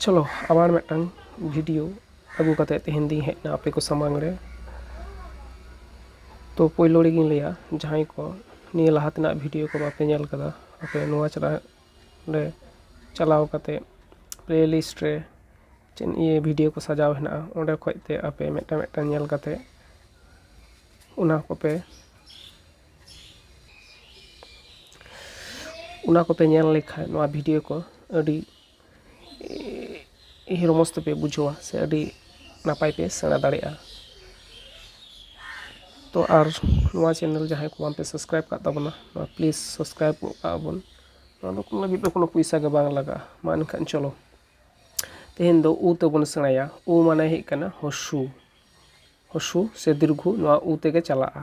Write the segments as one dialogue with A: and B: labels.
A: ᱪᱚᱞᱚ ᱟᱵᱟᱨ ᱢᱤᱫᱴᱟᱝ ᱵᱷᱤᱰᱤᱭᱳ ᱟᱹᱜᱩ ᱠᱟᱛᱮᱫ ᱛᱮᱦᱮᱧ ᱫᱚᱧ ᱦᱮᱡ ᱮᱱᱟ ᱟᱯᱮ ᱠᱚ ᱥᱟᱢᱟᱝ ᱨᱮ ᱛᱚ ᱯᱳᱭᱞᱳ ᱨᱮᱜᱤᱧ ᱞᱟᱹᱭᱟ ᱡᱟᱦᱟᱸᱭ ᱠᱚ ᱱᱤᱭᱟᱹ ᱞᱟᱦᱟ ᱛᱮᱱᱟᱜ ᱵᱷᱤᱰᱤᱭᱳ ᱠᱚ ᱵᱟᱯᱮ ᱧᱮᱞ ᱠᱟᱫᱟ ᱟᱯᱮ ᱱᱚᱣᱟ ᱪᱟᱞᱟᱜ ᱨᱮ ᱪᱟᱞᱟᱣ ᱠᱟᱛᱮᱫ ᱯᱞᱮ ᱞᱤᱥᱴ ᱨᱮ ᱪᱮᱫ ᱱᱤᱭᱟᱹ ᱵᱷᱤᱰᱤᱭᱳ ᱠᱚ ᱥᱟᱡᱟᱣ ᱦᱮᱱᱟᱜᱼᱟ ᱚᱸᱰᱮ ᱠᱷᱚᱱ ᱛᱮ ᱟᱯᱮ ᱢᱤᱫᱴᱟᱝ ᱢᱤᱫᱴᱟᱝ ᱧᱮᱞ ᱠᱟᱛᱮᱫ ᱚᱱᱟ ᱠᱚᱯᱮ ᱚᱱᱟ ᱠᱚᱯᱮ ᱧᱮᱞ ᱞᱮᱠᱷᱟᱱ ᱱᱚᱣᱟ ᱵᱷᱤᱰᱤᱭᱳ ᱠᱚ ᱟᱹᱰᱤ ᱨᱚᱢᱚᱡᱽ ᱛᱮᱯᱮ ᱵᱩᱡᱷᱟᱹᱣᱟ ᱥᱮ ᱟᱹᱰᱤ ᱱᱟᱯᱟᱭ ᱯᱮ ᱥᱮᱬᱟ ᱫᱟᱲᱮᱭᱟᱜᱼᱟ ᱛᱚ ᱟᱨ ᱱᱚᱣᱟ ᱪᱮᱱᱮᱞ ᱡᱟᱦᱟᱸᱭ ᱠᱚ ᱵᱟᱝᱯᱮ ᱥᱟᱵᱥᱠᱨᱟᱭᱤᱵᱽ ᱠᱟᱜ ᱛᱟᱵᱚᱱᱟ ᱯᱞᱤᱥ ᱥᱟᱵᱥᱠᱨᱟᱭᱤᱵᱽ ᱜᱚᱜ ᱠᱟᱜᱼᱟ ᱵᱚᱱ ᱱᱚᱣᱟ ᱫᱚ ᱠᱳᱱᱳ ᱞᱟᱹᱜᱤᱫ ᱫᱚ ᱠᱳᱱᱳ ᱯᱚᱭᱥᱟ ᱜᱮ ᱵᱟᱝ ᱞᱟᱜᱟᱜᱼᱟ ᱢᱟ ᱮᱱᱠᱷᱟᱱ ᱪᱚᱞᱚ ᱛᱮᱦᱮᱧ ᱫᱚ ᱩ ᱛᱮᱵᱚᱱ ᱥᱮᱬᱟᱭᱟ ᱩ ᱢᱟᱱᱮ ᱦᱩᱭᱩᱜ ᱠᱟᱱᱟ ᱦᱚᱥᱩ ᱦᱚᱥᱩ ᱥᱮ ᱫᱤᱨᱜᱷᱩ ᱱᱚᱣᱟ ᱩ ᱛᱮᱜᱮ ᱪᱟᱞᱟᱜᱼᱟ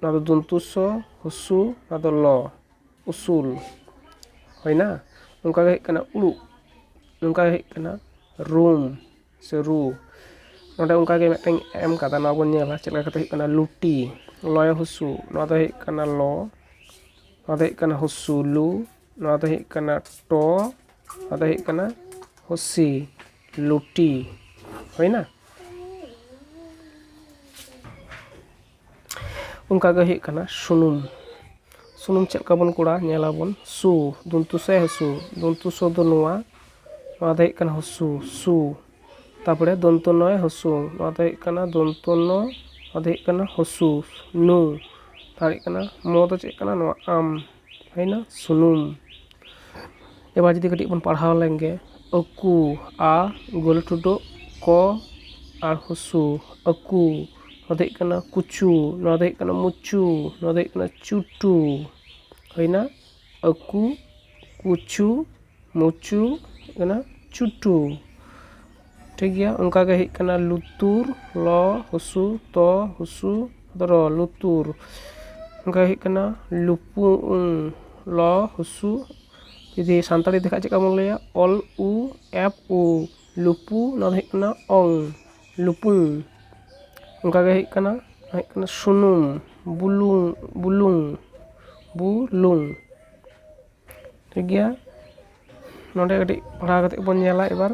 A: ᱱᱚᱣᱟ ᱫᱚ ᱫᱚᱱᱛᱚ ᱥᱚ ᱦᱚᱥᱩ ᱱᱚᱣᱟ ᱫᱚ ᱞᱚ ᱩᱥᱩᱞ ᱦᱩᱭᱮᱱᱟ ᱱᱚᱝᱠᱟ ᱜᱮ ᱦᱩᱭᱩᱜ ᱠᱟᱱᱟ ᱩᱲᱩᱜ ᱱᱚᱝᱠᱟ ᱜᱮ ᱦᱩᱭᱩᱜ ᱠᱟᱱᱟ ᱨᱩᱢ ᱥᱮ ᱨᱩ ᱱᱚᱰᱮ ᱚᱱᱠᱟ ᱜᱮ ᱢᱤᱫᱴᱮᱱ ᱮᱢ ᱠᱟᱫᱟ ᱱᱚᱣᱟ ᱵᱚᱱ ᱧᱮᱞᱟ ᱪᱮᱫ ᱞᱮᱠᱟ ᱠᱟᱛᱮᱫ ᱦᱩᱭᱩᱜ ᱠᱟᱱᱟ ᱞᱩᱴᱤ ᱞᱚᱭᱚ ᱦᱚᱥᱩ ᱱᱚᱣᱟ ᱫᱚ ᱦᱩᱭᱩᱜ ᱠᱟᱱᱟ ᱞᱚ ᱱᱚᱣᱟ ᱫᱚ ᱦᱩᱭᱩᱜ ᱠᱟᱱᱟ ᱦᱚᱥᱩ ᱞᱩ ᱱᱚᱣᱟ ᱫᱚ ᱦᱩᱭᱩᱜ ᱠᱟᱱᱟ ᱴᱚ ᱱᱚᱣᱟ ᱫᱚ ᱦᱩᱭᱩᱜ ᱠᱟᱱᱟ ᱦᱚᱥᱤ ᱞᱩᱴᱤ ᱦᱩᱭᱮᱱᱟ ᱚᱱᱠᱟ ᱜᱮ ᱦᱩᱭᱩᱜ ᱠᱟᱱᱟ ᱥᱩᱱᱩᱢ ᱥᱩᱱᱩᱢ ᱪᱮᱫ ᱞᱮᱠᱟ ᱵᱚᱱ ᱠᱚᱲᱟ ᱧᱮᱞ ᱟᱵᱚᱱ ᱥᱩ ᱫᱚᱱᱛᱩ ᱥᱮ ᱦᱟᱹᱥᱩ ᱫᱚᱱᱛᱩ ᱥᱚ ᱫᱚ ᱱᱚᱣᱟ ᱱᱚᱣᱟ ᱫᱚ ᱦᱩᱭᱩᱜ ᱠᱟᱱᱟ ᱦᱚᱥᱩ ᱥᱩ ᱛᱟᱨᱯᱚᱨᱮ ᱫᱚᱱᱛᱚ ᱱᱚᱭ ᱦᱚᱥᱩ ᱱᱚᱣᱟ ᱫᱚ ᱦᱩᱭᱩᱜ ᱠᱟᱱᱟ ᱫᱚᱱᱛᱚ ᱱᱚ ᱱᱚᱣᱟ ᱫᱚ ᱦᱩᱭᱩᱜ ᱠᱟᱱᱟ ᱦᱚᱥᱩ ᱱᱩ ᱟᱨ ᱦᱩᱭᱩᱜ ᱠᱟᱱᱟ ᱢᱚ ᱫᱚ ᱪᱮᱫ ᱠᱟᱱᱟ ᱱᱚᱣᱟ ᱟᱢ ᱦᱩᱭᱮᱱᱟ ᱥᱩᱱᱩᱢ ᱮᱵᱟᱨ ᱡᱩᱫᱤ ᱠᱟᱹᱴᱤᱡ ᱵᱚᱱ ᱯᱟᱲᱦᱟᱣ ᱞᱮᱱ ᱜᱮ ᱟᱹᱠᱩ ᱟ ᱜᱳᱞ ᱴᱩᱰᱟᱹᱜ ᱠᱚ ᱟᱨ ᱦᱩᱥᱩ ᱟᱹᱠᱩ ᱱᱚᱣᱟ ᱫᱚ ᱦᱩᱭᱩᱜ ᱠᱟᱱᱟ ᱠᱩᱪᱩ ᱱᱚᱣᱟ ᱫᱚ ᱦᱩᱭᱩᱜ ᱠᱟᱱᱟ ᱢᱩᱪᱩ ᱱᱚᱣᱟ ᱫᱚ ᱦᱩᱭᱩᱜ ᱠᱟᱱᱟ ᱪᱩᱴᱩ ᱦᱩᱭᱮᱱᱟ ᱟᱹᱠᱩ ᱠᱩᱪᱩ ᱢᱩᱪᱩ ᱦᱩᱭᱮᱱᱟ ᱪᱩᱴᱩ ᱴᱷᱤᱠ ᱜᱮᱭᱟ ᱚᱱᱠᱟ ᱜᱮ ᱦᱮᱡ ᱠᱟᱱᱟ ᱞᱩᱛᱩᱨ ᱞᱚ ᱦᱩᱥᱩ ᱛᱚ ᱦᱩᱥᱩ ᱨᱚ ᱞᱩᱛᱩᱨ ᱚᱱᱠᱟ ᱦᱮᱡ ᱠᱟᱱᱟ ᱞᱩᱯᱩᱝ ᱞᱚ ᱦᱩᱥᱩ ᱡᱩᱫᱤ ᱥᱟᱱᱛᱟᱲᱤ ᱛᱮᱠᱷᱟᱡ ᱪᱮᱫᱠᱟ ᱵᱚᱱ ᱞᱟᱹᱭᱟ ᱚᱞ ᱩ ᱮᱯ ᱩ ᱞᱩᱯᱩ ᱱᱚᱣᱟ ᱫᱚ ᱦᱩᱭᱩᱜ ᱠᱟᱱᱟ ᱚᱝ ᱞᱩᱯᱩᱝ ᱚᱱᱠᱟ ᱜᱮ ᱦᱮᱡ ᱠᱟᱱᱟ ᱱᱚᱣᱟ ᱦᱩᱭᱩᱜ ᱠᱟᱱᱟ ᱥᱩᱱᱩᱢ ᱵᱩᱞᱩᱝ ᱵᱩᱞᱩᱝ ᱵᱩ ᱞᱩᱝ ᱴᱷᱤᱠ ᱜᱮᱭᱟ ᱱᱚᱰᱮ ᱠᱟᱹᱴᱤᱡ ᱯᱟᱲᱦᱟᱣ ᱠᱟᱛᱮ ᱵᱚᱱ ᱧᱮᱞᱟ ᱮᱵᱟᱨ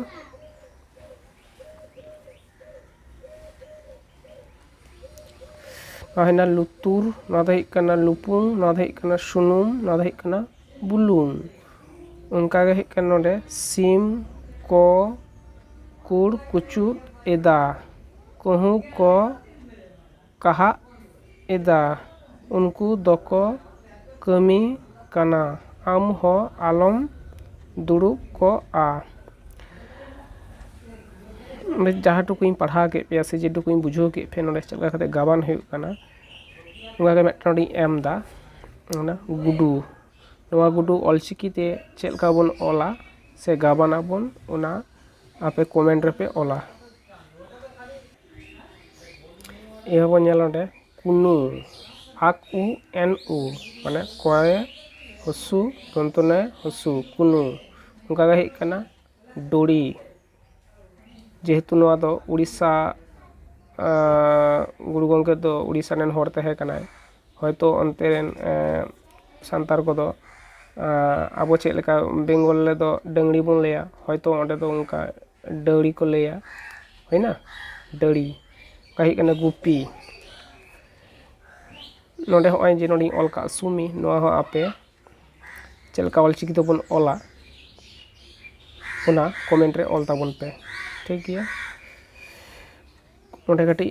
A: ᱱᱚᱣᱟ ᱦᱩᱭᱱᱟ ᱞᱩᱛᱩᱨ ᱱᱚᱣᱟ ᱫᱚ ᱦᱩᱭᱩᱜ ᱠᱟᱱᱟ ᱞᱩᱯᱩᱝ ᱱᱚᱣᱟ ᱫᱚ ᱦᱩᱭᱩᱜ ᱠᱟᱱᱟ ᱥᱩᱱᱩᱢ ᱱᱚᱣᱟ ᱫᱚ ᱦᱩᱭᱩᱜ ᱠᱟᱱᱟ ᱵᱩᱞᱩᱝ ᱚᱱᱠᱟ ᱜᱮ ᱦᱩᱭᱩᱜ ᱠᱟᱱᱟ ᱱᱚᱰᱮ ᱥᱤᱢ ᱠᱚ ᱠᱩᱲ ᱠᱩᱪᱩᱫ ᱮᱫᱟ ᱠᱟᱹᱦᱩ ᱠᱚ ᱠᱟᱦᱟᱜ ᱮᱫᱟ ᱩᱱᱠᱩ ᱫᱚᱠᱚ ᱠᱟᱹᱢᱤ ᱠᱟᱱᱟ ᱟᱢ ᱦᱚᱸ ᱟᱞᱚᱢ ᱫᱩᱲᱩᱵ ᱠᱚᱜᱼᱟ ᱡᱟᱦᱟᱸ ᱴᱩᱠᱩᱧ ᱯᱟᱲᱦᱟᱣ ᱠᱮᱫ ᱯᱮᱭᱟ ᱥᱮ ᱡᱮ ᱴᱩᱠᱩᱧ ᱵᱩᱡᱷᱟᱹᱣ ᱠᱮᱫ ᱯᱮᱭᱟ ᱱᱚᱰᱮ ᱪᱮᱫ ᱞᱮᱠᱟ ᱠᱟᱛᱮ ᱜᱟᱵᱟᱱ ᱦᱩᱭᱩᱜ ᱠᱟᱱᱟ ᱚᱱᱟ ᱜᱮ ᱢᱤᱫᱴᱮᱱ ᱱᱚᱰᱮᱧ ᱮᱢ ᱮᱫᱟ ᱚᱱᱟ ᱜᱩᱰᱩ ᱱᱚᱣᱟ ᱜᱩᱰᱩ ᱚᱞ ᱪᱤᱠᱤ ᱛᱮ ᱪᱮᱫ ᱞᱮᱠᱟ ᱵᱚᱱ ᱚᱞᱟ ᱥᱮ ᱜᱟᱵᱟᱱᱟᱵᱚᱱ ᱚᱱᱟ ᱟᱯᱮ ᱠᱚᱢᱮᱱᱴ ᱨᱮᱯᱮ ᱚᱞᱟ ᱮᱭ ᱵᱟᱵᱩ ᱧᱮᱞ ᱱᱚᱸᱰᱮ ᱠᱩᱱᱩ ᱟᱠ ᱩ ᱮᱱ ᱩ ᱢᱟᱱᱮ ᱠᱚᱭᱮ ᱦᱚᱥᱩ ᱫᱚᱱᱛᱚ ᱱᱚᱭᱮ ᱦᱚᱥᱩ ᱠᱩᱱᱩ ᱚᱱᱠᱟ ᱜᱮ ᱦᱮᱡ ᱠᱟᱱᱟ ᱰᱚᱲᱤ ᱡᱮᱦᱮᱛᱩ ᱱᱚᱣᱟ ᱫᱚ ᱳᱰᱤᱥᱟ ᱜᱩᱨᱩ ᱜᱚᱝᱠᱮ ᱫᱚ ᱳᱰᱤᱥᱟ ᱨᱮᱱ ᱦᱚᱲ ᱛᱟᱦᱮᱸ ᱠᱟᱱᱟᱭ ᱦᱚᱭᱛᱳ ᱚᱱᱛᱮ ᱨᱮᱱ ᱥᱟᱱᱛᱟᱲ ᱠᱚᱫᱚ ᱟᱵᱚ ᱪᱮᱫ ᱞᱮᱠᱟ ᱵᱮᱝᱜᱚᱞ ᱨᱮᱫᱚ ᱰᱟᱹᱝᱨᱤ ᱵᱚᱱ ᱞᱟᱹᱭᱟ ᱦᱚᱭᱛᱳ ᱚᱸᱰᱮ ᱫᱚ ᱚᱱᱠᱟ ᱰᱟᱹᱣᱨᱤ ᱠᱚ ᱞᱟᱹᱭᱟ ᱦᱩᱭᱱᱟ ᱰᱟᱹᱣᱨᱤ ᱚᱠᱟ ᱦᱩᱭᱩᱜ ᱠᱟᱱᱟ ᱜᱩᱯᱤ ᱱᱚᱰᱮ ᱦᱚᱸᱜᱼᱚᱭ ᱡᱮ ᱱᱚᱰᱮᱧ ᱚᱞ ᱠᱟᱜ ᱥᱩᱢᱤ ᱱᱚᱣᱟ ᱦᱚᱸ ᱟᱯᱮ ᱪᱮᱫ ᱞᱮᱠᱟ ᱚᱞ ᱪᱤᱠᱤ ᱛᱮᱵᱚᱱ ᱚᱞᱟ ᱚᱱᱟ ᱠᱚᱢᱮᱱᱴ ᱨᱮ ᱚᱞ ᱛᱟᱵᱚᱱ ᱯᱮ ᱴᱷᱤᱠ ᱜᱮᱭᱟ ᱱᱚᱰᱮ ᱠᱟᱹᱴᱤᱡ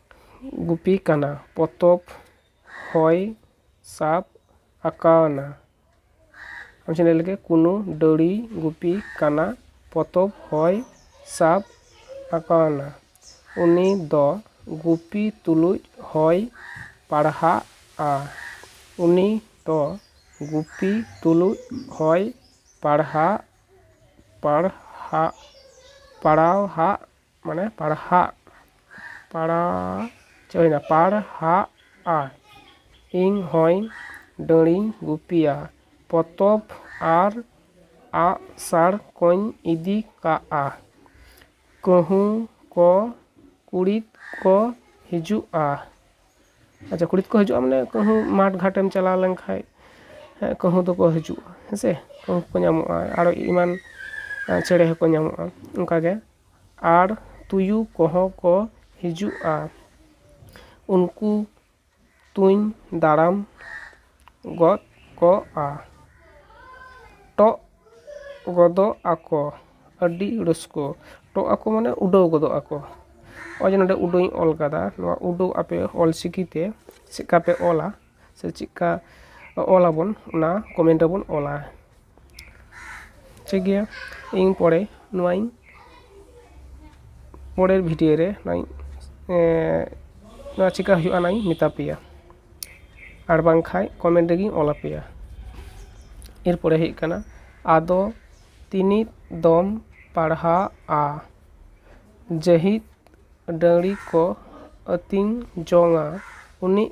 A: ᱜᱩᱯᱤ ᱠᱟᱱᱟ ᱯᱚᱛᱚᱵ ᱦᱚᱭ ᱥᱟᱵ ᱟᱠᱟᱣᱱᱟ ᱟᱪᱪᱷᱟ ᱞᱟᱹᱭ ᱞᱮᱜᱮ ᱠᱩᱱᱩ ᱰᱟᱹᱲᱤ ᱜᱩᱯᱤ ᱠᱟᱱᱟ ᱯᱚᱛᱚᱵ ᱦᱚᱭ ᱥᱟᱵ ᱟᱠᱟᱣᱱᱟ ᱩᱱᱤ ᱫᱚ ᱜᱩᱯᱤ ᱛᱩᱞᱩᱡ ᱦᱚᱭ ᱯᱟᱲᱦᱟᱜᱼᱟ ᱩᱱᱤ ᱫᱚ ᱜᱩᱯᱤ ᱛᱩᱞᱩᱡ ᱦᱚᱭ ᱯᱟᱲᱦᱟᱜ ᱯᱟᱲᱦᱟᱜ ᱯᱟᱲᱟᱣᱦᱟᱜᱼᱟ ᱢᱟᱱᱮ ᱯᱟᱲᱦᱟᱜ ᱯᱟᱲᱟᱜ ᱪᱮᱫ ᱦᱩᱭᱱᱟ ᱯᱟᱲᱦᱟᱜᱼᱟ ᱤᱧ ᱦᱚᱸᱭ ᱰᱟᱹᱲᱤᱧ ᱜᱩᱯᱤᱭᱟ ᱯᱚᱛᱚᱵ ᱟᱨ ᱟᱜ ᱥᱟᱲ ᱠᱚᱧ ᱤᱫᱤ ᱠᱟᱜᱼᱟ ᱠᱟᱹᱦᱩ ᱠᱚ ᱠᱩᱲᱤᱫ ᱠᱚ ᱦᱤᱡᱩᱜᱼᱟ ᱟᱪᱪᱷᱟ ᱠᱩᱲᱤᱫ ᱠᱚ ᱦᱤᱡᱩᱜᱼᱟ ᱢᱟᱱᱮ ᱠᱟᱹᱦᱩ ᱢᱟᱴᱷ ᱜᱷᱟᱴᱮᱢ ᱪᱟᱞᱟᱣ ᱞᱮᱱᱠᱷᱟᱱ ᱠᱟᱹᱦᱩ ᱫᱚᱠᱚ ᱦᱤᱡᱩᱜᱼᱟ ᱦᱮᱸᱥᱮ ᱠᱟᱹᱦᱩ ᱠᱚ ᱧᱟᱢᱚᱜᱼᱟ ᱟᱨᱚ ᱮᱢᱟᱱ ᱪᱮᱬᱮ ᱦᱚᱸᱠᱚ ᱧᱟᱢᱚᱜᱼᱟ ᱚᱱᱠᱟᱜᱮ ᱟᱨ ᱛᱩᱭᱩ ᱠᱚᱦᱚᱸ ᱠᱚ ᱦᱤᱡᱩᱜᱼᱟ ᱩᱱᱠᱩ ᱛᱩᱧ ᱫᱟᱨᱟᱢ ᱜᱚᱫ ᱠᱚᱜᱼᱟ ᱴᱚᱜ ᱜᱚᱫᱚᱜ ᱟᱠᱚ ᱟᱹᱰᱤ ᱨᱟᱹᱥᱠᱟᱹ ᱴᱚᱜ ᱟᱠᱚ ᱢᱟᱱᱮ ᱩᱰᱟᱹᱣ ᱜᱚᱫᱚᱜ ᱟᱠᱚ ᱱᱚᱜᱼᱚᱭ ᱡᱮ ᱱᱚᱸᱰᱮ ᱩᱰᱟᱹᱣ ᱤᱧ ᱚᱞ ᱠᱟᱫᱟ ᱱᱚᱣᱟ ᱩᱰᱟᱹᱣ ᱟᱯᱮ ᱚᱞ ᱪᱤᱠᱤᱛᱮ ᱪᱮᱫ ᱞᱮᱠᱟ ᱯᱮ ᱚᱞᱟ ᱥᱮ ᱪᱮᱫᱠᱟ ᱚᱞ ᱟᱵᱚᱱ ᱚᱱᱟ ᱠᱚᱢᱮᱱᱴ ᱨᱮᱵᱚᱱ ᱚᱞᱟ ᱴᱷᱤᱠ ᱜᱮᱭᱟ ᱤᱧ ᱯᱚᱨᱮ ᱱᱚᱣᱟᱧ ᱯᱚᱨᱮᱨ ᱵᱷᱤᱰᱤᱭᱳ ᱨᱮ ᱱᱚᱣᱟᱧ ᱱᱚᱣᱟ ᱪᱮᱠᱟ ᱦᱩᱭᱩᱜᱼᱟ ᱚᱱᱟᱧ ᱢᱮᱛᱟ ᱯᱮᱭᱟ ᱟᱨ ᱵᱟᱝᱠᱷᱟᱱ ᱠᱚᱢᱮᱱᱴ ᱨᱮᱜᱮᱧ ᱚᱞ ᱟᱯᱮᱭᱟ ᱮᱨᱯᱚᱨᱮ ᱦᱩᱭᱩᱜ ᱠᱟᱱᱟ ᱟᱫᱚ ᱛᱤᱱᱤᱜ ᱫᱚᱢ ᱯᱟᱲᱦᱟᱜᱼᱟ ᱡᱟᱹᱦᱤᱫ ᱰᱟᱹᱝᱨᱤ ᱠᱚ ᱟᱹᱛᱤᱧ ᱡᱚᱝᱼᱟ ᱩᱱᱤᱜ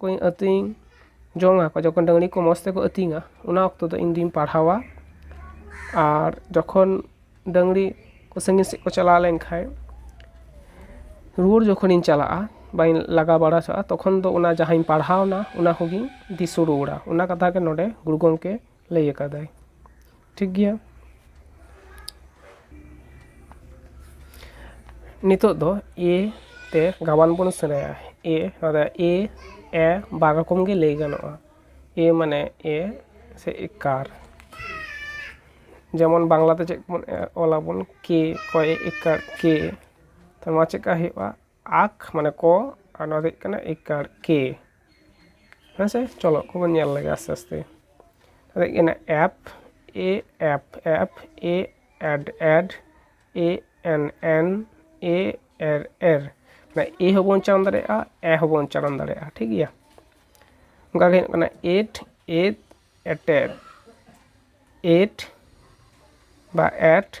A: ᱠᱚᱧ ᱟᱹᱛᱤᱧ ᱡᱚᱝᱟ ᱡᱚᱠᱷᱚᱱ ᱰᱟᱹᱝᱨᱤ ᱠᱚ ᱢᱚᱡᱽ ᱛᱮᱠᱚ ᱟᱹᱛᱤᱧᱟ ᱚᱱᱟ ᱚᱠᱛᱚ ᱫᱚ ᱤᱧ ᱫᱚᱧ ᱯᱟᱲᱦᱟᱣᱟ ᱟᱨ ᱡᱚᱠᱷᱚᱱ ᱰᱟᱹᱝᱨᱤ ᱠᱚ ᱥᱟᱺᱜᱤᱧ ᱥᱮᱫ ᱠᱚ ᱪᱟᱞᱟᱣ ᱞᱮᱱᱠᱷᱟᱱ ᱨᱩᱣᱟᱹᱲ ᱡᱚᱠᱷᱚᱱᱤᱧ ᱪᱟᱞᱟᱜᱼᱟ ᱵᱟᱹᱧ ᱞᱟᱜᱟ ᱵᱟᱲᱟ ᱦᱚᱪᱚᱣᱟᱜᱼᱟ ᱛᱚᱠᱷᱚᱱ ᱫᱚ ᱚᱱᱟ ᱡᱟᱦᱟᱸᱧ ᱯᱟᱲᱦᱟᱣᱱᱟ ᱚᱱᱟ ᱠᱚᱜᱮᱧ ᱫᱤᱥᱟᱹ ᱨᱩᱣᱟᱹᱲᱟ ᱚᱱᱟ ᱠᱟᱛᱷᱟ ᱜᱮ ᱱᱚᱰᱮ ᱜᱩᱨᱩ ᱜᱚᱢᱠᱮ ᱞᱟᱹᱭ ᱟᱠᱟᱫᱟᱭ ᱴᱷᱤᱠ ᱜᱮᱭᱟ ᱱᱤᱛᱚᱜ ᱫᱚ ᱮ ᱛᱮ ᱜᱟᱵᱟᱱ ᱵᱚᱱ ᱥᱮᱬᱟᱭᱟ ᱮ ᱱᱚᱣᱟ ᱫᱚ ᱮ ᱮ ᱵᱟᱨ ᱨᱚᱠᱚᱢ ᱜᱮ ᱞᱟᱹᱭ ᱜᱟᱱᱚᱜᱼᱟ ᱮ ᱢᱟᱱᱮ ᱮ ᱥᱮ ᱮᱠᱟᱨ ᱡᱮᱢᱚᱱ ᱵᱟᱝᱞᱟᱛᱮ ᱪᱮᱫ ᱵᱚᱱ ᱚᱞ ᱟᱵᱚᱱ ᱠᱮ ᱚᱠᱚᱭ ᱮᱠᱟᱨ ᱠᱮ ᱛᱚ ᱱᱚᱣᱟ ᱪᱮᱫᱠᱟ ᱦᱩᱭᱩᱜᱼᱟ ᱟᱠ ᱢᱟᱱᱮ ᱠᱚ ᱟᱨ ᱱᱚᱣᱟ ᱫᱚ ᱦᱩᱭᱩᱜ ᱠᱟᱱᱟ ᱤᱠᱟᱨ ᱠᱮ ᱦᱮᱸ ᱥᱮ ᱪᱚᱞᱚ ᱠᱚ ᱵᱚᱱ ᱧᱮᱞ ᱞᱮᱜᱮ ᱟᱥᱛᱮ ᱟᱥᱛᱮ ᱱᱚᱣᱟ ᱫᱚ ᱦᱩᱭᱩᱜ ᱠᱟᱱᱟ ᱮᱯ ᱮ ᱮᱯ ᱮᱯ ᱮ ᱮᱰ ᱮᱰ ᱮ ᱮᱱ ᱮᱱ ᱮ ᱮᱨ ᱮᱨ ᱢᱟᱱᱮ ᱮ ᱦᱚᱸ ᱵᱚᱱ ᱪᱟᱞᱟᱣ ᱫᱟᱲᱮᱭᱟᱜᱼᱟ ᱮ ᱦᱚᱸ ᱵᱚᱱ ᱪᱟᱞᱟᱣ ᱫᱟᱲᱮᱭᱟᱜᱼᱟ ᱴᱷᱤᱠ ᱜᱮᱭᱟ ᱚᱱᱠᱟ ᱜᱮ ᱦᱩᱭᱩᱜ ᱠᱟᱱᱟ ᱮᱴ ᱮᱫ ᱮᱴᱮᱫ ᱮᱴ ᱵᱟ ᱮᱴ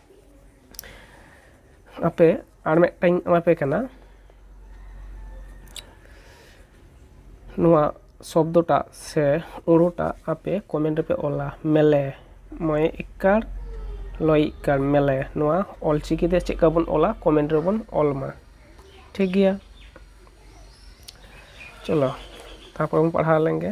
A: ᱟᱯᱮ ᱟᱨ ᱢᱤᱫᱴᱟᱝ ᱤᱧ ᱮᱢᱟᱯᱮ ᱠᱟᱱᱟ ᱱᱚᱣᱟ ᱥᱚᱵᱫᱚᱴᱟᱜ ᱥᱮ ᱳᱲᱳᱴᱟᱜ ᱟᱯᱮ ᱠᱚᱢᱮᱱᱴ ᱨᱮᱯᱮ ᱚᱞᱟ ᱢᱮᱞᱮ ᱢᱚᱭᱮ ᱤᱠᱠᱟᱲ ᱞᱚᱭᱮ ᱤᱠᱠᱟᱲ ᱢᱮᱞᱮ ᱱᱚᱣᱟ ᱚᱞ ᱪᱤᱠᱤ ᱛᱮ ᱪᱮᱫ ᱞᱮᱠᱟ ᱵᱚᱱ ᱚᱞᱟ ᱠᱚᱢᱮᱱᱴ ᱨᱮᱵᱚᱱ ᱚᱞ ᱢᱟ ᱴᱷᱤᱠ ᱜᱮᱭᱟ ᱪᱚᱞᱚ ᱛᱟᱨᱯᱚᱨᱮ ᱵᱚᱱ ᱯᱟᱲᱦᱟᱣ ᱞᱮᱱᱜᱮ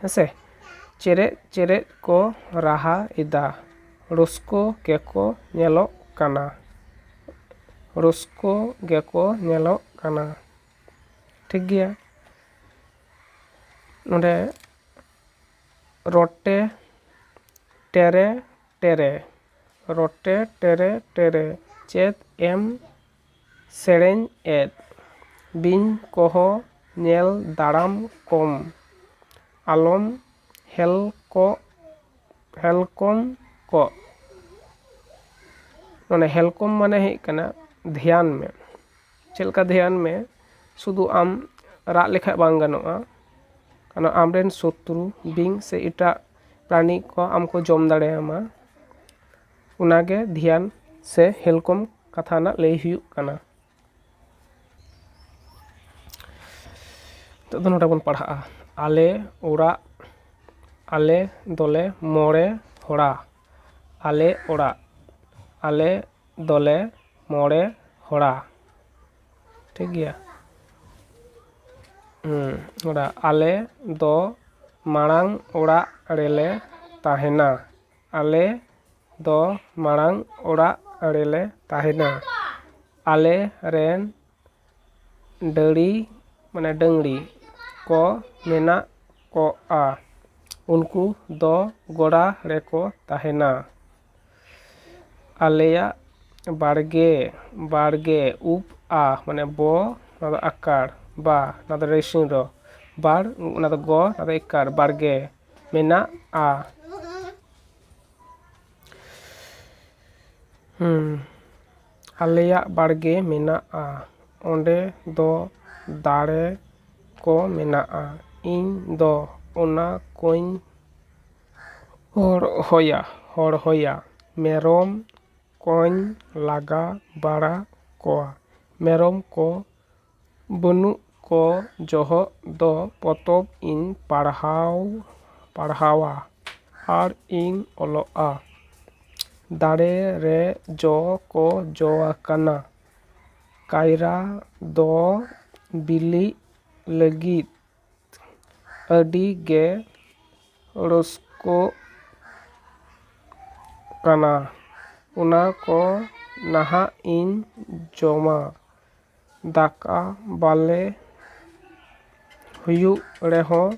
A: ᱦᱮᱸᱥᱮ ᱪᱮᱨᱮᱡ ᱪᱮᱨᱮᱡ ᱠᱚ ᱨᱟᱦᱟ ᱮᱫᱟ ᱨᱟᱹᱥᱠᱟᱹ ᱜᱮᱠᱚ ᱧᱮᱞᱚᱜ ᱠᱟᱱᱟ ᱨᱟᱹᱥᱠᱟᱹ ᱜᱮᱠᱚ ᱧᱮᱞᱚᱜ ᱠᱟᱱᱟ ᱴᱷᱤᱠ ᱜᱮᱭᱟ ᱱᱚᱰᱮ ᱨᱚᱴᱮ ᱴᱮᱨᱮ ᱴᱮᱨᱮ ᱨᱚᱴᱮ ᱴᱮᱨᱮ ᱴᱮᱨᱮ ᱪᱮᱫ ᱮᱢ ᱥᱮᱨᱮᱧ ᱮᱫ ᱵᱤᱧ ᱠᱚᱦᱚ ᱧᱮᱞ ᱫᱟᱲᱟᱢ ᱠᱚᱢ ᱟᱞᱚᱢ ᱦᱮᱞᱠᱚᱜ ᱦᱮᱞᱠᱚᱢ ᱠᱚᱜ ᱢᱟᱱᱮ ᱦᱮᱞᱠᱚᱢ ᱢᱟᱱᱮ ᱦᱩᱭᱩᱜ ᱠᱟᱱᱟ ᱫᱷᱮᱭᱟᱱ ᱢᱮ ᱪᱮᱫ ᱞᱮᱠᱟ ᱫᱷᱮᱭᱟᱱ ᱢᱮ ᱥᱩᱫᱩ ᱟᱢ ᱨᱟᱜ ᱞᱮᱠᱷᱟᱱ ᱵᱟᱝ ᱜᱟᱱᱚᱜᱼᱟ ᱠᱟᱨᱚᱱ ᱟᱢ ᱨᱮᱱ ᱥᱚᱛᱨᱩ ᱵᱤᱧ ᱥᱮ ᱮᱴᱟᱜ ᱯᱨᱟᱱᱤ ᱠᱚ ᱟᱢ ᱠᱚ ᱡᱚᱢ ᱫᱟᱲᱮᱭᱟᱢᱟ ᱚᱱᱟ ᱜᱮ ᱫᱷᱮᱭᱟᱱ ᱥᱮ ᱦᱮᱞᱠᱚᱢ ᱠᱟᱛᱷᱟ ᱨᱮᱱᱟᱜ ᱞᱟᱹᱭ ᱦᱩᱭᱩᱜ ᱠᱟᱱᱟ ᱱᱤᱛᱚᱜ ᱫᱚ ᱱᱚᱰᱮ ᱵᱚᱱ ᱯᱟᱲᱦᱟᱜᱼᱟ ᱟᱞᱮ ᱚᱲᱟᱜ ᱟᱞᱮ ᱫᱚᱞᱮ ᱢᱚᱬᱮ ᱦᱚᱲᱟ ᱟᱞᱮ ᱚᱲᱟᱜ ᱟᱞᱮ ᱫᱚᱞᱮ ᱢᱚᱬᱮ ᱦᱚᱲᱟ ᱴᱷᱤᱠ ᱜᱮᱭᱟ ᱦᱩᱸ ᱚᱲᱟᱜ ᱟᱞᱮ ᱫᱚ ᱢᱟᱲᱟᱝ ᱚᱲᱟᱜ ᱨᱮᱞᱮ ᱛᱟᱦᱮᱱᱟ ᱟᱞᱮ ᱫᱚ ᱢᱟᱲᱟᱝ ᱚᱲᱟᱜ ᱟᱲᱮ ᱞᱮ ᱛᱟᱦᱮᱱᱟ ᱟᱞᱮ ᱨᱮᱱ ᱰᱟᱹᱝᱨᱤ ᱢᱟᱱᱮ ᱰᱟᱹᱝᱨᱤ ᱠᱚ ᱢᱮᱱᱟᱜ ᱠᱚᱣᱟ ᱩᱱᱠᱩ ᱫᱚ ᱜᱚᱲᱟ ᱨᱮᱠᱚ ᱛᱟᱦᱮᱱᱟ ᱟᱞᱮᱭᱟᱜ ᱵᱟᱲᱜᱮ ᱵᱟᱲᱜᱮ ᱩᱵ ᱟ ᱢᱟᱱᱮ ᱵᱚ ᱚᱱᱟ ᱫᱚ ᱟᱠᱟᱨ ᱵᱟ ᱚᱱᱟ ᱫᱚ ᱨᱮᱥᱩᱱ ᱨᱚ ᱵᱟᱲ ᱚᱱᱟ ᱫᱚ ᱜᱚ ᱚᱱᱟ ᱫᱚ ᱮᱠᱟᱨ ᱵᱟᱲᱜᱮ ᱢᱮᱱᱟᱜᱼᱟ ᱟᱞᱮᱭᱟᱜ ᱵᱟᱲᱜᱮ ᱢᱮᱱᱟᱜᱼᱟ ᱚᱸᱰᱮ ᱫᱚ ᱫᱟᱨᱮ ᱠᱚ ᱢᱮᱱᱟᱜᱼᱟ ᱤᱧ ᱫᱚ ᱚᱱᱟ ᱠᱚᱧ ᱦᱚᱨᱦᱚᱭᱟ ᱦᱚᱨᱦᱚᱭᱟ ᱢᱮᱨᱚᱢ ᱠᱚᱧ ᱞᱟᱜᱟ ᱵᱟᱲᱟ ᱠᱚᱣᱟ ᱢᱮᱨᱚᱢ ᱠᱚ ᱵᱟᱹᱱᱩᱜ ᱠᱚ ᱡᱚᱦᱚᱜ ᱫᱚ ᱯᱚᱛᱚᱵ ᱤᱧ ᱯᱟᱲᱦᱟᱣ ᱯᱟᱲᱦᱟᱣᱟ ᱟᱨ ᱤᱧ ᱚᱞᱚᱜᱼᱟ ᱫᱟᱨᱮ ᱨᱮ ᱡᱚ ᱠᱚ ᱡᱚ ᱟᱠᱟᱱᱟ ᱠᱟᱭᱨᱟ ᱫᱚ ᱵᱤᱞᱤᱜ ᱞᱟᱹᱜᱤᱫ ᱟᱹᱰᱤ ᱜᱮ ᱨᱟᱹᱥᱠᱟᱹᱜ ᱠᱟᱱᱟ ᱚᱱᱟ ᱠᱚ ᱱᱟᱦᱟᱜ ᱤᱧ ᱡᱚᱢᱟ ᱫᱟᱠᱟ ᱵᱟᱞᱮ ᱦᱩᱭᱩᱜ ᱨᱮᱦᱚᱸ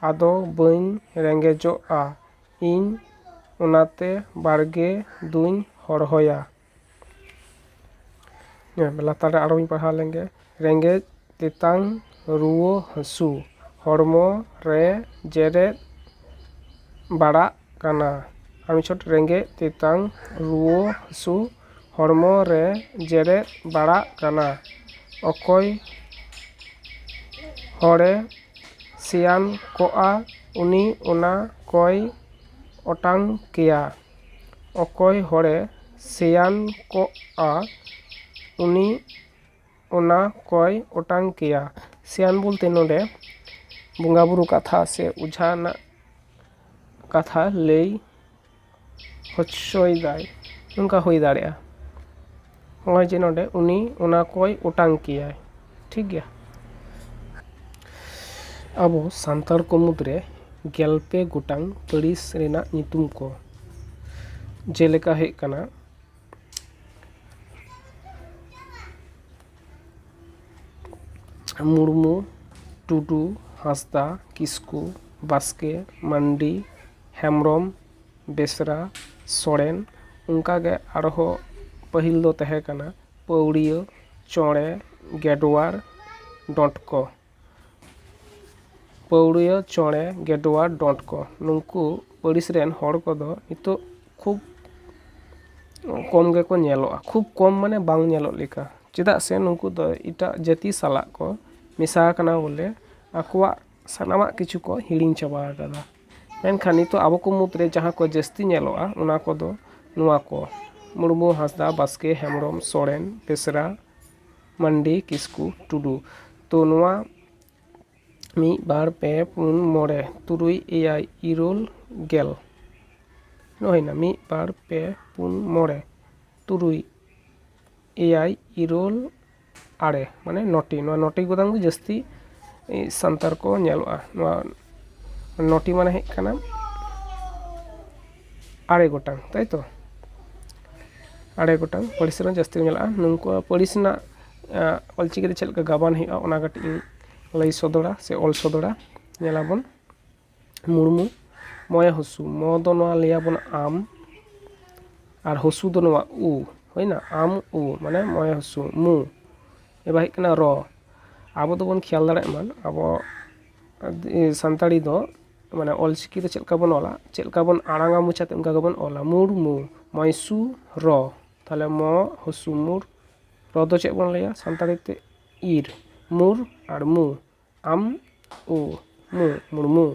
A: ᱟᱫᱚ ᱵᱟᱹᱧ ᱨᱮᱸᱜᱮᱡᱚᱜᱼᱟ ᱤᱧ ᱚᱱᱟᱛᱮ ᱵᱟᱲᱜᱮ ᱫᱩᱧ ᱦᱚᱨᱦᱚᱭᱟ ᱞᱟᱛᱟᱨ ᱨᱮ ᱟᱨᱚᱧ ᱯᱟᱲᱦᱟᱣ ᱞᱮᱱᱜᱮ ᱨᱮᱸᱜᱮᱡ ᱛᱮᱛᱟᱝ ᱨᱩᱣᱟᱹ ᱦᱟᱹᱥᱩ ᱦᱚᱲᱢᱚ ᱨᱮ ᱡᱮᱨᱮᱫ ᱵᱟᱲᱟᱜ ᱠᱟᱱᱟ ᱟᱨ ᱢᱤᱫ ᱪᱷᱚᱴ ᱨᱮᱸᱜᱮᱡ ᱛᱮᱛᱟᱝ ᱨᱩᱣᱟᱹ ᱦᱟᱹᱥᱩ ᱦᱚᱲᱢᱚ ᱨᱮ ᱡᱮᱨᱮᱫ ᱵᱟᱲᱟᱜ ᱠᱟᱱᱟ ᱚᱠᱚᱭ ᱦᱚᱲᱮ ᱥᱮᱭᱟᱱ ᱠᱚᱜᱼᱟ ᱩᱱᱤ ᱚᱱᱟ ᱠᱚᱭ ᱚᱴᱟᱝ ᱠᱮᱭᱟ ᱚᱠᱚᱭ ᱦᱚᱲᱮ ᱥᱮᱭᱟᱱ ᱠᱚᱜᱼᱟ ᱩᱱᱤ ᱚᱱᱟ ᱠᱚᱭ ᱚᱴᱟᱝ ᱠᱮᱭᱟ ᱥᱮᱭᱟᱱ ᱵᱚᱞᱛᱮ ᱱᱚᱸᱰᱮ ᱵᱚᱸᱜᱟᱼᱵᱩᱨᱩ ᱠᱟᱛᱷᱟ ᱥᱮ ᱚᱡᱷᱟ ᱨᱮᱱᱟᱜ ᱠᱟᱛᱷᱟ ᱞᱟᱹᱭ ᱦᱚᱪᱚᱭ ᱫᱟᱭ ᱱᱚᱝᱠᱟ ᱦᱩᱭ ᱫᱟᱲᱮᱭᱟᱜᱼᱟ ᱱᱚᱜᱼᱚᱭ ᱡᱮ ᱱᱚᱸᱰᱮ ᱩᱱᱤ ᱚᱱᱟ ᱠᱚᱭ ᱚᱴᱟᱝ ᱠᱮᱭᱟᱭ ᱴᱷᱤᱠ ᱜᱮᱭᱟ ᱟᱵᱚ ᱥᱟᱱᱛᱟᱲ ᱠᱚ ᱢᱩᱫᱽ ᱨᱮ ᱜᱮᱞ ᱯᱮ ᱜᱚᱴᱟᱝ ᱯᱟᱹᱨᱤᱥ ᱨᱮᱱᱟᱜ ᱧᱩᱛᱩᱢ ᱠᱚ ᱡᱮᱞᱮᱠᱟ ᱦᱩᱭᱩᱜ ᱠᱟᱱᱟ ᱢᱩᱨᱢᱩ ᱴᱩᱰᱩ ᱦᱟᱸᱥᱫᱟ ᱠᱤᱥᱠᱩ ᱵᱟᱥᱠᱮ ᱢᱟᱱᱰᱤ ᱦᱮᱢᱵᱨᱚᱢ ᱵᱮᱥᱨᱟ ᱥᱚᱨᱮᱱ ᱚᱱᱠᱟ ᱜᱮ ᱟᱨᱦᱚᱸ ᱯᱟᱹᱦᱤᱞ ᱫᱚ ᱛᱟᱦᱮᱸ ᱠᱟᱱᱟ ᱯᱟᱹᱣᱨᱤᱭᱟᱹ ᱪᱚᱬᱮ ᱜᱮᱰᱣᱟᱨ ᱰᱚᱸᱴᱠᱚ ᱯᱟᱹᱣᱲᱤᱭᱟᱹ ᱪᱚᱬᱮ ᱜᱮᱰᱣᱟ ᱰᱚᱸᱴ ᱠᱚ ᱱᱩᱠᱩ ᱯᱟᱹᱨᱤᱥ ᱨᱮᱱ ᱦᱚᱲ ᱠᱚᱫᱚ ᱱᱤᱛᱚᱜ ᱠᱷᱩᱵ ᱠᱚᱢ ᱜᱮᱠᱚ ᱧᱮᱞᱚᱜᱼᱟ ᱠᱷᱩᱵ ᱠᱚᱢ ᱢᱟᱱᱮ ᱵᱟᱝ ᱧᱮᱞᱚᱜ ᱞᱮᱠᱟ ᱪᱮᱫᱟᱜ ᱥᱮ ᱱᱩᱠᱩ ᱫᱚ ᱮᱴᱟᱜ ᱡᱟᱹᱛᱤ ᱥᱟᱞᱟᱜ ᱠᱚ ᱢᱮᱥᱟ ᱟᱠᱟᱱᱟ ᱵᱚᱞᱮ ᱟᱠᱚᱣᱟᱜ ᱥᱟᱱᱟᱢᱟᱜ ᱠᱤᱪᱷᱩ ᱠᱚ ᱦᱤᱲᱤᱧ ᱪᱟᱵᱟ ᱟᱠᱟᱫᱟ ᱢᱮᱱᱠᱷᱟᱱ ᱱᱤᱛᱚᱜ ᱟᱵᱚ ᱠᱚ ᱢᱩᱫᱽᱨᱮ ᱡᱟᱦᱟᱸ ᱠᱚ ᱡᱟᱹᱥᱛᱤ ᱧᱮᱞᱚᱜᱼᱟ ᱚᱱᱟ ᱠᱚᱫᱚ ᱱᱚᱣᱟ ᱠᱚ ᱢᱩᱨᱢᱩ ᱦᱟᱸᱥᱫᱟ ᱵᱟᱥᱠᱮ ᱦᱮᱢᱵᱨᱚᱢ ᱥᱚᱨᱮᱱ ᱵᱮᱥᱨᱟ ᱢᱟᱱᱰᱤ ᱠᱤᱥᱠᱩ ᱴᱩᱰᱩ ᱛᱚ ᱱᱚᱣᱟ ᱢᱤᱫ ᱵᱟᱨ ᱯᱮ ᱯᱩᱱ ᱢᱚᱬᱮ ᱛᱩᱨᱩᱭ ᱮᱭᱟᱭ ᱤᱨᱟᱹᱞ ᱜᱮᱞ ᱦᱩᱭᱱᱟ ᱢᱤᱫ ᱵᱟᱨ ᱯᱮ ᱯᱩᱱ ᱢᱚᱬᱮ ᱛᱩᱨᱩᱭ ᱮᱭᱟᱭ ᱤᱨᱟᱹᱞ ᱟᱨᱮ ᱢᱟᱱᱮ ᱱᱚᱴᱤ ᱱᱚᱣᱟ ᱱᱚᱴᱤ ᱜᱚᱴᱟᱝ ᱜᱮ ᱡᱟᱹᱥᱛᱤ ᱥᱟᱱᱛᱟᱲ ᱠᱚ ᱧᱮᱞᱚᱜᱼᱟ ᱱᱚᱣᱟ ᱱᱚᱴᱤ ᱢᱟᱱᱮ ᱦᱩᱭᱩᱜ ᱠᱟᱱᱟ ᱟᱨᱮ ᱜᱚᱴᱟᱝ ᱛᱟᱭ ᱛᱚ ᱟᱨᱮ ᱜᱚᱴᱟᱝ ᱯᱟᱹᱨᱤᱥ ᱨᱮᱱ ᱡᱟᱹᱥᱛᱤ ᱠᱚ ᱧᱮᱞᱚᱜᱼᱟ ᱱᱩᱠᱩᱣᱟᱜ ᱯᱟᱹᱨᱤᱥ ᱨᱮᱱᱟᱜ ᱚᱞ ᱪᱤᱠᱤ ᱛᱮ ᱪᱮᱫ ᱞᱮᱠᱟ ᱜᱟᱵᱟᱱ ᱦᱩᱭᱩᱜᱼᱟ ᱚᱱᱟ ᱠᱟᱹᱴᱤᱡ ᱤᱧ ᱞᱟᱹᱭ ᱥᱚᱫᱚᱨᱟ ᱥᱮ ᱚᱞ ᱥᱚᱫᱚᱨᱟ ᱧᱮᱞ ᱟᱵᱚᱱ ᱢᱩᱨᱢᱩ ᱢᱚᱭᱮ ᱦᱩᱥᱩ ᱢᱚ ᱫᱚ ᱱᱚᱣᱟ ᱞᱟᱹᱭ ᱟᱵᱚᱱ ᱟᱢ ᱟᱨ ᱦᱩᱥᱩ ᱫᱚ ᱱᱚᱣᱟ ᱩ ᱦᱩᱭᱱᱟ ᱟᱢ ᱩ ᱢᱟᱱᱮ ᱢᱚᱭᱮ ᱦᱩᱥᱩ ᱢᱩ ᱮᱵᱟᱨ ᱦᱮᱡ ᱠᱟᱱᱟ ᱨᱚ ᱟᱵᱚ ᱫᱚᱵᱚᱱ ᱠᱷᱮᱭᱟᱞ ᱫᱟᱲᱮᱭᱟᱜ ᱢᱟ ᱟᱵᱚ ᱥᱟᱱᱛᱟᱲᱤ ᱫᱚ ᱢᱟᱱᱮ ᱚᱞ ᱪᱤᱠᱤ ᱫᱚ ᱪᱮᱫ ᱞᱮᱠᱟ ᱵᱚᱱ ᱚᱞᱟ ᱪᱮᱫ ᱞᱮᱠᱟ ᱵᱚᱱ ᱟᱲᱟᱝᱟ ᱢᱚᱪᱟ ᱛᱮ ᱚᱱᱠᱟ ᱜᱮᱵᱚᱱ ᱚᱞᱟ ᱢᱩᱨᱢᱩ ᱢᱚᱭᱥᱩ ᱨᱚ ᱛᱟᱦᱚᱞᱮ ᱢᱚ ᱦᱚᱥᱩ ᱢᱩᱨ ᱨᱚ ᱫᱚ ᱪᱮᱫ ᱵᱚᱱ ᱞᱟᱹᱭᱟ ᱥᱟᱱᱛᱟᱲᱤ ᱛᱮ ᱤᱨ ᱢᱩᱨ ᱟᱨ ᱢᱩ ᱟᱢ ᱩ ᱢᱩ ᱢᱩᱨᱢᱩ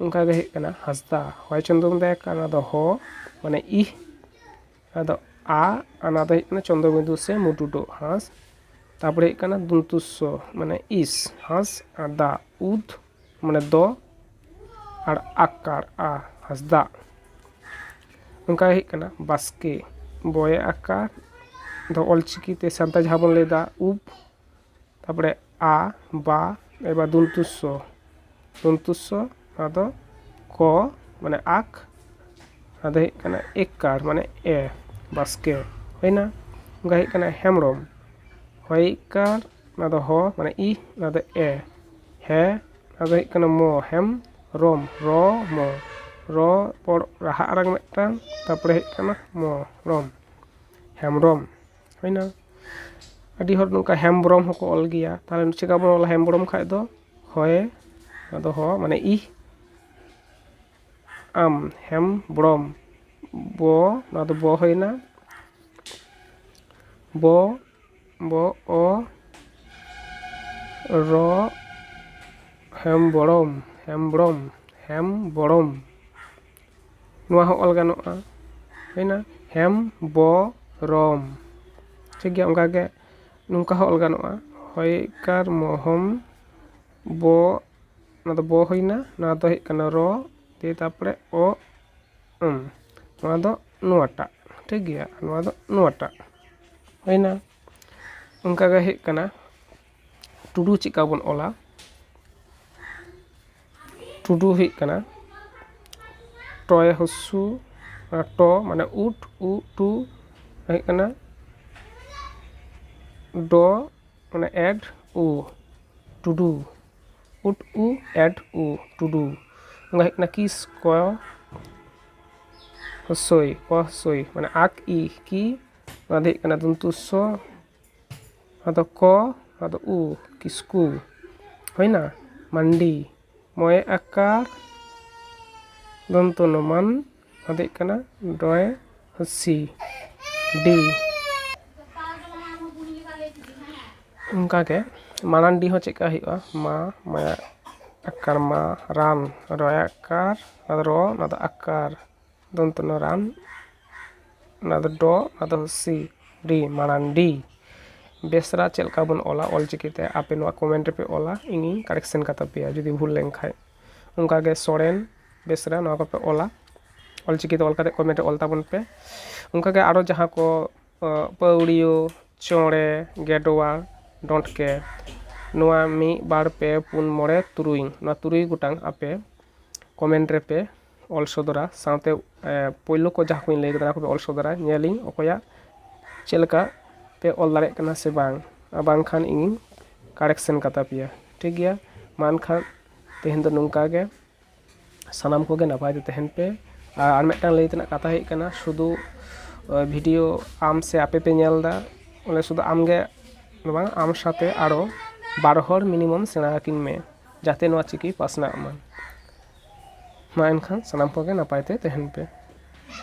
A: ᱚᱱᱠᱟ ᱜᱮ ᱦᱩᱭᱩᱜ ᱠᱟᱱᱟ ᱦᱟᱸᱥᱫᱟ ᱦᱚᱭ ᱪᱚᱱᱫᱨᱚ ᱵᱚᱱ ᱞᱟᱹᱭᱟ ᱚᱱᱟ ᱫᱚ ᱦᱚ ᱢᱟᱱᱮ ᱤᱦ ᱟᱫᱚ ᱟ ᱚᱱᱟ ᱫᱚ ᱦᱩᱭᱩᱜ ᱠᱟᱱᱟ ᱪᱚᱱᱫᱨᱚ ᱵᱤᱱᱫᱩ ᱥᱮ ᱢᱩᱴᱩ ᱰᱚᱜ ᱦᱟᱸᱥ ᱛᱟᱯᱚᱨᱮ ᱦᱩᱭᱩᱜ ᱠᱟᱱᱟ ᱫᱚᱱᱛᱩ ᱥ ᱢᱟᱱᱮ ᱤᱥ ᱦᱟᱸᱥ ᱟᱨ ᱫᱟ ᱩᱫ ᱢᱟᱱᱮ ᱫᱚ ᱟᱨ ᱟᱠᱟᱨ ᱟ ᱦᱟᱸᱥᱫᱟ ᱚᱱᱠᱟ ᱜᱮ ᱦᱩᱭᱩᱜ ᱠᱟᱱᱟ ᱵᱟᱥᱠᱮ ᱵᱚᱭᱮ ᱟᱠᱟᱨ ᱫᱚ ᱚᱞᱪᱤᱠᱤ ᱛᱮ ᱥᱟᱱᱛᱟᱲ ᱡᱟᱦᱟᱸ ᱵᱚᱱ ᱞᱟᱹᱭᱫᱟ ᱩᱵ ᱛᱟᱨᱯᱚᱨᱮ ᱟ ᱵᱟ ᱮᱵᱟᱨ ᱫᱚᱱᱛᱩ ᱥ ᱫᱚᱱᱛᱩ ᱥ ᱟᱫᱚ ᱠ ᱢᱟᱱᱮ ᱟᱠ ᱟᱫᱚ ᱦᱩᱭᱩᱜ ᱠᱟᱱᱟ ᱮᱠᱠᱟᱨ ᱢᱟᱱᱮ ᱮ ᱵᱟᱥᱠᱮ ᱦᱩᱭᱱᱟ ᱚᱱᱠᱟ ᱦᱩᱭᱩᱜ ᱠᱟᱱᱟ ᱦᱮᱢᱵᱽᱨᱚᱢ ᱦᱚᱭᱼᱤᱠᱠᱟᱨ ᱚᱱᱟ ᱫᱚ ᱦᱚ ᱢᱟᱱᱮ ᱤ ᱚᱱᱟ ᱫᱚ ᱮ ᱦᱮ ᱚᱱᱟ ᱫᱚ ᱦᱩᱭᱩᱜ ᱠᱟᱱᱟ ᱢᱚ ᱦᱮᱢ ᱨᱚᱢ ᱨᱚ ᱢᱚ ᱨᱚ ᱯᱚᱨ ᱨᱟᱦᱟ ᱟᱲᱟᱝ ᱢᱤᱫᱴᱟᱝ ᱛᱟᱨᱯᱚᱨᱮ ᱦᱩᱭᱩᱜ ᱠᱟᱱᱟ ᱢᱚ ᱨᱚᱢ ᱦᱮᱢᱵᱽᱨᱚᱢ ᱦᱩᱭᱱᱟ ᱟᱹᱰᱤ ᱦᱚᱲ ᱱᱚᱝᱠᱟ ᱦᱮᱢᱵᱨᱚᱢ ᱦᱚᱸᱠᱚ ᱚᱞ ᱜᱮᱭᱟ ᱛᱟᱦᱚᱞᱮ ᱪᱤᱠᱟᱹ ᱵᱚᱱ ᱚᱞᱟ ᱦᱮᱢᱵᱨᱚᱢ ᱠᱷᱟᱱ ᱫᱚ ᱦᱚᱭᱮ ᱟᱫᱚ ᱦᱚ ᱢᱟᱱᱮ ᱤ ᱟᱢ ᱦᱮᱢᱵᱨᱚᱢ ᱵᱚ ᱱᱚᱣᱟ ᱫᱚ ᱵᱚ ᱦᱩᱭᱱᱟ ᱵᱚ ᱵᱚ ᱚ ᱨᱚ ᱦᱮᱢᱵᱨᱚᱢ ᱦᱮᱢᱵᱨᱚᱢ ᱦᱮᱢᱵᱨᱚᱢ ᱱᱚᱣᱟ ᱦᱚᱸ ᱚᱞ ᱜᱟᱱᱚᱜᱼᱟ ᱦᱩᱭᱱᱟ ᱦᱮᱢᱵᱚᱨᱚᱢ ᱴᱷᱤᱠ ᱜᱮᱭᱟ ᱚᱱᱠᱟ ᱜᱮ ᱱᱚᱝᱠᱟ ᱦᱚᱸ ᱚᱞ ᱜᱟᱱᱚᱜᱼᱟ ᱦᱚᱭᱠᱟᱨ ᱢᱚᱦᱚᱢ ᱵᱚ ᱱᱚᱣᱟ ᱫᱚ ᱵᱚ ᱦᱩᱭᱱᱟ ᱱᱚᱣᱟ ᱫᱚ ᱦᱩᱭᱩᱜ ᱠᱟᱱᱟ ᱨᱚ ᱫᱤᱭᱮ ᱛᱟᱨᱯᱚᱨᱮ ᱚ ᱚᱢ ᱱᱚᱣᱟ ᱫᱚ ᱱᱚᱣᱟᱴᱟᱜ ᱴᱷᱤᱠ ᱜᱮᱭᱟ ᱱᱚᱣᱟ ᱫᱚ ᱱᱚᱣᱟᱴᱟᱜ ᱦᱩᱭᱱᱟ ᱚᱱᱠᱟ ᱜᱮ ᱦᱩᱭᱩᱜ ᱠᱟᱱᱟ ᱴᱩᱰᱩ ᱪᱮᱫ ᱞᱮᱠᱟ ᱵᱚᱱ ᱚᱞᱟ ᱴᱩᱰᱩ ᱦᱩᱭᱩᱜ ᱠᱟᱱᱟ ᱴᱚᱭᱮ ᱦᱚᱥᱥᱩ ᱴᱚ ᱢᱟᱱᱮ ᱩᱴ ᱩ ᱴᱩ ᱦᱩᱭᱩᱜ ᱠᱟᱱᱟ ᱰᱚ ᱢᱟᱱᱮ ᱮᱰ ᱩ ᱴᱩᱰᱩ ᱩᱴ ᱩ ᱮᱰ ᱩ ᱴᱩᱰᱩ ᱚᱱᱟ ᱦᱩᱭᱩᱜ ᱠᱟᱱᱟ ᱠᱤᱥ ᱠᱚ ᱦᱚᱥᱳᱭ ᱠᱚ ᱦᱚᱥᱳᱭ ᱢᱟᱱᱮ ᱟᱠ ᱤ ᱠᱤ ᱚᱱᱟ ᱫᱚ ᱦᱩᱭᱩᱜ ᱠᱟᱱᱟ ᱫᱚᱱᱛᱩ ᱥᱚ ᱟᱫᱚ ᱠᱚ ᱟᱫᱚ ᱩ ᱠᱤᱥᱠᱩ ᱦᱩᱭᱱᱟ ᱢᱟᱱᱰᱤ ᱢᱚᱭᱮ ᱟᱠᱟᱨ ᱫᱚᱱᱛᱚ ᱱᱚ ᱢᱟᱱ ᱟᱫᱚ ᱦᱩᱭᱩᱜ ᱠᱟᱱᱟ ᱰᱚᱭᱮ ᱦᱚᱥᱤ ᱰᱤ ᱚᱱᱠᱟ ᱜᱮ ᱢᱟᱲᱟᱝᱰᱤ ᱦᱚᱸ ᱪᱮᱫᱠᱟ ᱦᱩᱭᱩᱜᱼᱟ ᱢᱟ ᱢᱟᱭᱟ ᱟᱠᱟᱨ ᱢᱟ ᱨᱟᱱ ᱨᱚᱭᱮ ᱟᱠᱟᱨ ᱟᱫᱚ ᱨᱚ ᱚᱱᱟ ᱫᱚ ᱟᱠᱟᱨ ᱫᱚᱱᱛᱚ ᱱᱚ ᱨᱟᱱ ᱚᱱᱟ ᱫᱚ ᱰᱚ ᱱᱚᱣᱟ ᱫᱚ ᱥᱤ ᱰᱤ ᱢᱟᱨᱟᱱᱰᱤ ᱵᱮᱥᱨᱟ ᱪᱮᱫ ᱞᱮᱠᱟ ᱵᱚᱱ ᱚᱞᱟ ᱚᱞ ᱪᱤᱠᱤ ᱛᱮ ᱟᱯᱮ ᱱᱚᱣᱟ ᱠᱚᱢᱮᱱᱴ ᱨᱮᱯᱮ ᱚᱞᱟ ᱤᱧᱤᱧ ᱠᱟᱨᱮᱠᱥᱮᱱ ᱠᱟᱛᱟ ᱯᱮᱭᱟ ᱡᱩᱫᱤ ᱵᱷᱩᱞ ᱞᱮᱱᱠᱷᱟᱱ ᱚᱱᱠᱟ ᱜᱮ ᱥᱚᱨᱮᱱ ᱵᱮᱥᱨᱟ ᱱᱚᱣᱟ ᱠᱚᱯᱮ ᱚᱞᱟ ᱚᱞ ᱪᱤᱠᱤ ᱛᱮ ᱚᱞ ᱠᱟᱛᱮᱫ ᱠᱚᱢᱮᱱᱴ ᱨᱮ ᱚᱞ ᱛᱟᱵᱚᱱ ᱯᱮ ᱚᱱᱠᱟ ᱜᱮ ᱟᱨᱚ ᱡᱟᱦᱟᱸ ᱠᱚ ᱯᱟᱹᱣᱲᱤᱭᱟᱹ ᱪᱚᱬᱮ ᱜᱮᱰᱣᱟ ᱰᱚᱸᱰᱠᱮ ᱱᱚᱣᱟ ᱢᱤᱫ ᱵᱟᱨ ᱯᱮ ᱯᱩᱱ ᱢᱚᱬᱮ ᱛᱩᱨᱩᱭ ᱱᱚᱣᱟ ᱛᱩᱨᱩᱭ ᱜᱚᱴᱟᱝ ᱟᱯᱮ ᱠᱚᱢᱮᱱᱴ ᱨᱮᱯᱮ ᱚᱞ ᱥᱚᱫᱚᱨᱟ ᱥᱟᱶᱛᱮ ᱯᱳᱭᱞᱳ ᱠᱚ ᱡᱟᱦᱟᱸ ᱠᱚᱧ ᱞᱟᱹᱭ ᱠᱮᱫᱟ ᱚᱱᱟ ᱠᱚᱯᱮ ᱚᱞ ᱥᱚᱫᱚᱨᱟ ᱧᱮᱞᱤᱧ ᱚᱠᱚᱭᱟᱜ ᱪᱮᱫ ᱞᱮᱠᱟ ᱯᱮ ᱚᱞ ᱫᱟᱲᱮᱭᱟᱜ ᱠᱟᱱᱟ ᱥᱮ ᱵᱟᱝ ᱟᱨ ᱵᱟᱝᱠᱷᱟᱱ ᱤᱧᱤᱧ ᱠᱟᱨᱮᱠᱥᱮᱱ ᱠᱟᱛᱟ ᱯᱮᱭᱟ ᱴᱷᱤᱠ ᱜᱮᱭᱟ ᱢᱟ ᱮᱱᱠᱷᱟᱱ ᱛᱮᱦᱮᱧ ᱫᱚ ᱱᱚᱝᱠᱟ ᱜᱮ ᱥᱟᱱᱟᱢ ᱠᱚᱜᱮ ᱱᱟᱯᱟᱭ ᱛᱮ ᱛᱟᱦᱮᱱ ᱯᱮ ᱟᱨ ᱟᱨ ᱢᱤᱫᱴᱟᱱ ᱞᱟᱹᱭ ᱛᱮᱱᱟᱜ ᱠᱟᱛᱷᱟ ᱦᱩᱭᱩᱜ ᱠᱟᱱᱟ ᱥᱩᱫᱩ ᱵᱷᱤᱰᱤᱭᱳ ᱟᱢ ᱥᱮ ᱟᱯᱮ ᱯᱮ ᱧᱮᱞ ᱮᱫᱟ ᱚᱱᱟ ᱥᱩᱫᱩ ᱟᱢᱜᱮ ᱫᱚ ᱵᱟᱝ ᱟᱢ ᱥᱟᱶᱛᱮ ᱟᱨᱚ ᱵᱟᱨ ᱦᱚᱲ ᱢᱤᱱᱤᱢᱟᱢ ᱥᱮᱬᱟ ᱟᱹᱠᱤᱱ ᱢᱮ ᱡᱟᱛᱮ ᱱᱚᱣᱟ ᱪᱤᱠᱤ ᱯᱟᱥᱱᱟᱜ ᱢᱟ ᱢᱟ ᱮᱱᱠᱷᱟᱱ ᱥᱟᱱᱟᱢ ᱠᱚᱜᱮ ᱱᱟᱯᱟᱭ ᱛᱮ ᱛᱟᱦᱮᱱ ᱯᱮ